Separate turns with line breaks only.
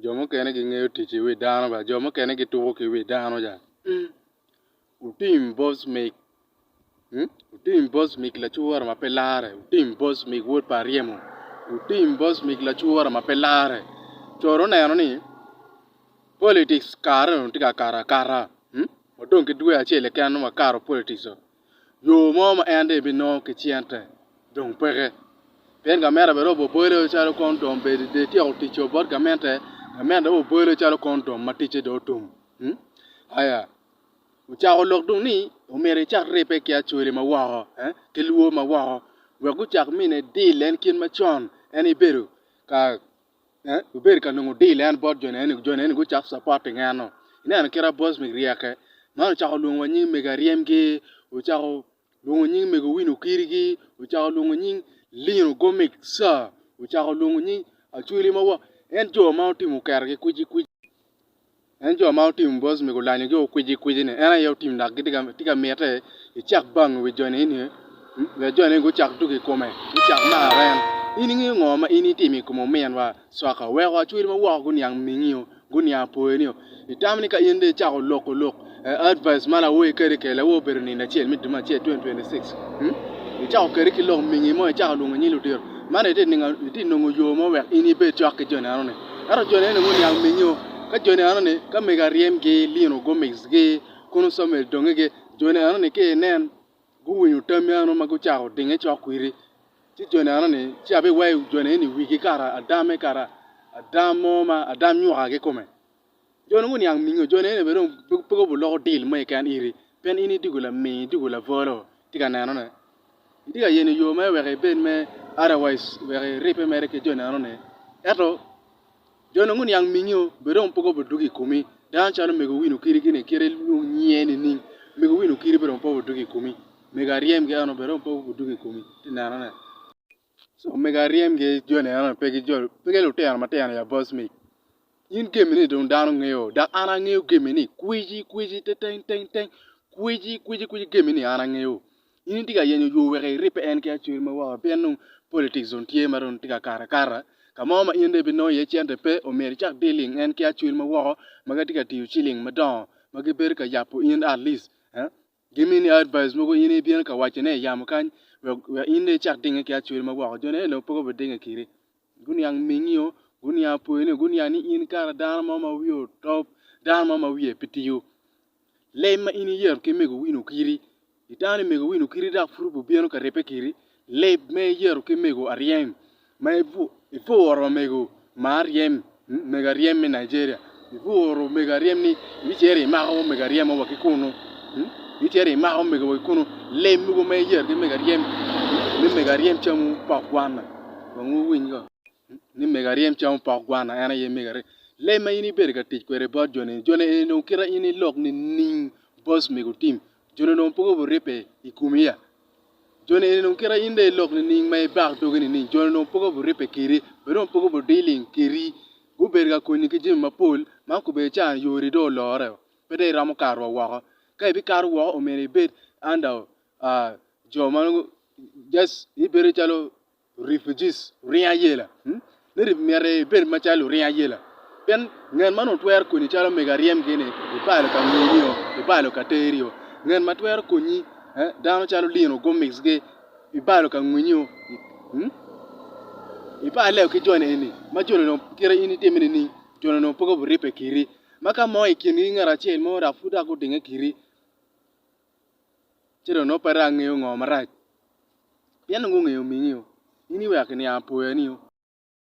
Jo mukene gingeyo tic ki wi dano bene, jo mukene gituko ki wi dano ca. Wutim bot mig, wutim bot mig lacwora ma pe larre, wutim bot mig wod pa aryemo, wutim bot mig lacwora ma pe larre. Coro oneno ni politics kareni dong tye ka kato akata, wadong ki dwe acel keken dong wakato politics-o. yo mo ma en dong ebinongo ki cente dong peke. Pien gamente bene obobole calo kondom bedi dong etyeko tic o bot gamente, gamente dong obobole calo kondom ma ticce dong otum. Hmm? Aya. Ocako lok dong ni omyero ecak ribbe ki acoli ma woko, eh, ki lwo ma woko, wek gucak mine deal en kit macon en ibedo ka Wubed ka nongo dil en bot jo neni, jo neni gucok capat i ngeno. Ineno kit ma Bosmik ryeke? Man ocako lwongo wa nying mego Aryemgi, ocako lwongo nying mego Owino Okirigi, ocako lwongo nying Lino Gomik ca, ocako lwongo nying Acweli ma wa, en jo ma otimo kergi kwici kwici. En jo ma otim bos me gulanyogi okwici kwici ni en aye otim dok tye ka mite icak bang i wi jo ni eni wek jo ni gucak tugo i kome gucak maro en in ingeyo ngo ma in itimo i kom omin wa coka weko acwel ma woko guniang mingi oo guniang poyo ni oo itamo ni ka in dong icako loko lok Advice ma lawoyi kadi kede lawo obedo nino acel me dumo acel 2026 i cako kadi ki lok mingi mo i cako lwongo nying ludito man i ti nongo yo mo wek in i bed cok ki joni eno ni ento joni eno ni nongo niang mingi o ka joni eno ni ka mego a ryem gi lino gu mix gi kono samuel donge gi joni eno ni ka i nen gu winyo tammi eno ma gu cako dinge cok kwidi ci joni eno ni ci a bi weyo joni eno ni wigi kara a dame kara a dam mo ma a dam nyuka ki kome Jo nongo niang mingo jo nene bene dong pe kobo loko dil mo keken iri pien in idwogo laming idwogo labolo itye ka neno ne itye ka yeno yo mere wek ibed me otherwise wek iripe mere ki jo neno ni ento jo nongo oniang mingo bene dong pe kobo dwogo ikomi dano calo mego wino kidi gini kite ilwong nyinge nining mego wino kidi bene dong pe kobo dwogo ikomi mego aryem gi eno bene dong pe kobo dwogo ikomi ite neno ne. Omego aryem gi joni eno ni pe gi jo pe ki lutino matino ya boss me in gemi ni dong dano ngeyo dok an angeyo gemi ni kweci kweci teteng teng teng kweci kweci kweci gemi ni an angeyo in itye ka yenyo yo wek iripe en ki acwel ma woko pien dong politics dong tye ma dong tye ka kato akata ka mo ma in dong ibi nongo iye cente pe omyero icak dealing en ki acwel ma woko ma gitye ka tiyo ciling madongo ma gibedo ka yabo in at least Gimini advice mogo in ibino ka waco ne yamo kany wek in dong icak dinge ki acwele ma woko jo ne pe gube dinge kiri guniang mingi o guniang pwoyi ni guniang ni in kara dano mo ma wiye otop dano mo ma wiye pe tiyo lem ma in iyeto ki mego wino kiri itang ni mego wino kiri dok pud obino ka ribbe kiri Leb me yeto ki mego aryem ma ibworo wa mego ma aryem mego aryem me Nigeria ibworo mego aryem ni ibicito imako mego aryem mo wa ki kunu ibicito imako mego wa ki kunu leb mogo ma iyeto ki mego aryem ni mego aryem camo pok gwana kong wuwiny ko ni mego aryem camo pok gwana en aye mego aryem leb ma in ibedo ka tic kwede bot joni joni eni dong kita in ilok nining bos mego tim Joni onongo poko buribbe i komi ya? Joni eni dong kite in dong ilok nining ma ibak dogi nining? Joni onongo poko buribbe kedi, bene onongo poko budiling kedi. Gubedo ka konyi ki jami mapol ma kobedi cani yori dong olore o, pe dong iromo kato wa woko. Ka ibikato woko omyero ibed under jo ma nongo just ibedo calo refugees, luring ayela. Ni ri myero ibed macalo luring ayela. Pien ngat ma nongo twero konyi calo omego aryem gini i palo ka ngeyi-nio, i palo ka teri-o. Ngat ma twero konyi dano calo Lino Gomez gi i palo ka ngwinyi-o. Ipale-o ki joni eni ma joni dong kite in itime nining? Joni dong poko biripe kiri. Ma ka mo i kingi ngat acel mo dok pud dok odinge kiri. ci dong nongo pe dong angeyo ngo marac pien nongo gungeyo omingi o in iweko ki niang apoya ni o.